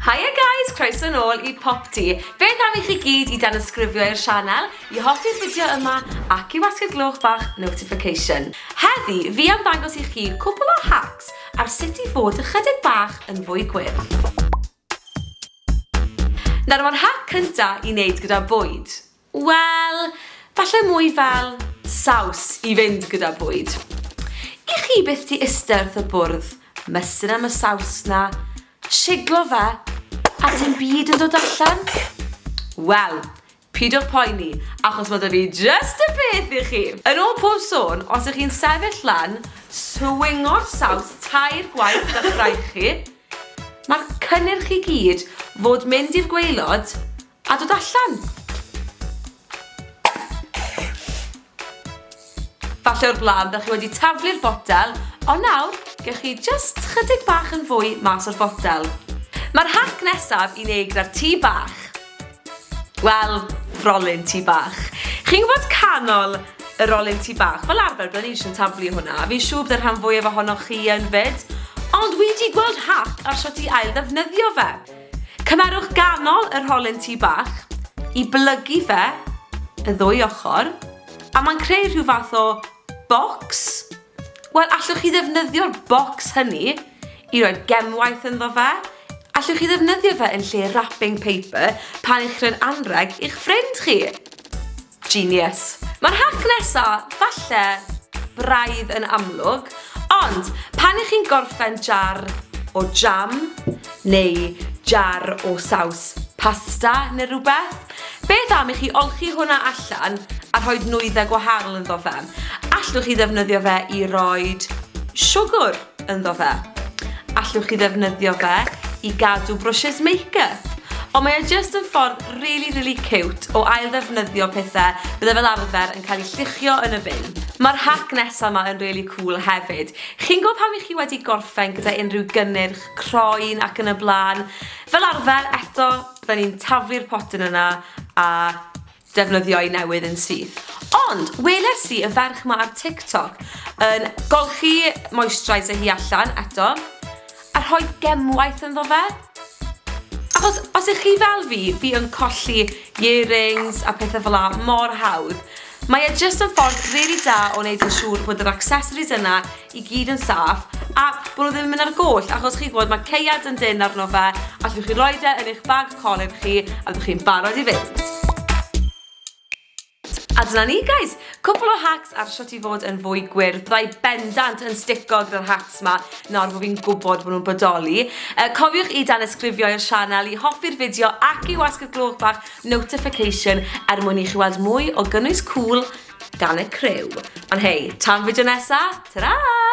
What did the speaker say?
Hiya guys, croeso yn ôl i Popty. Beth am i chi gyd i dan ysgrifio i'r sianel, i hoffi'r fideo yma ac i wasgu'r gloch bach notification. Heddi, fi am ddangos i chi cwpl o hacks ar sut i fod ychydig bach yn fwy gwyrdd. Nawr mae'r hack cynta i wneud gyda bwyd. Wel, falle mwy fel saws i fynd gyda bwyd. I chi byth di iste wrth y bwrdd, mysur am y saws na, siglo fe, a dim byd yn dod allan? Wel, pyd o poeni, achos mae da fi just y peth i chi! Yn ôl pob sôn, os ych chi'n sefyll lan, swingo'r saws tair gwaith da chraig chi, mae'r cynnyrch i gyd fod mynd i'r gweilod, A dod allan! Falle o'r blaen bych chi wedi taflu'r botel, ond nawr gewch chi jyst chydig bach yn fwy mas o'r botel. Mae'r hac nesaf i'n ei gyda'r tŷ bach. Wel, frolyn tŷ bach. Chi'n gwybod canol y rolyn tŷ bach? Fel arfer, byddwn ni eisiau taflu hwnna. Fi'n siŵr byddai'r rhan fwyaf ohonoch chi yn fyd, ond wedi gweld hac ar sut i ail ddefnyddio fe. Cymerwch ganol yr holyn tŷ bach i blygu fe y ddwy ochr a mae'n creu rhyw fath o bocs. Wel, allwch chi ddefnyddio'r bocs hynny i roi gemwaith ynddo fe. Allwch chi ddefnyddio fe yn lle wrapping paper pan ych chi'n anreg i'ch ffrind chi. Genius. Mae'r hac nesa falle braidd yn amlwg, ond pan ych chi'n gorffen jar o jam neu jar o saws pasta neu rhywbeth, beth am i chi olchi hwnna allan a rhoi nwyddau gwahanol ynddo fe? Allwch chi ddefnyddio fe i roed siwgwr? ynddo fe. Allwch chi ddefnyddio fe i gadw brwsys make-up. Ond mae e jyst yn ffordd really, really cute o ail ddefnyddio pethau bydde fel arfer yn cael eu lluchio yn y bin. Mae'r hack nesa yma yn really cool hefyd. Chi'n gwybod pan ych chi wedi gorffen gyda unrhyw gynnyrch, croen ac yn y blaen? Fel arfer, eto, bydden ni'n taflu'r potyn yna a defnyddio i newydd yn syth. Ond, weles i y ferch ma ar TikTok yn golchi moisturiser hi allan eto, a rhoi gemwaith ynddo fe. Achos, os ych chi fel fi, fi yn colli earrings a pethau fel la mor hawdd. Mae e jyst yn ffordd rili da o wneud yn siŵr bod yr accessories yna i gyd yn saff a bod nhw ddim yn mynd ar goll achos chi'n gwybod mae ceiad yn dynn arno fe allwch chi roi e yn eich bag colur chi a byddwch chi'n barod i fynd. A dyna ni guys, cwpl o hacks ar shwt i fod yn fwy gwyrdd. Byddai bendant yn stico gyda'r hacks ma nawr bod fi'n gwybod bod nhw'n bodoli. Uh, cofiwch i dan ysgrifio i'r sianel i hoffi'r fideo ac i wasgu'r gloch bach notification er mwyn i chi weld mwy o gynnwys cŵl gan y criw. Ond hei, tan fideo nesa, tara!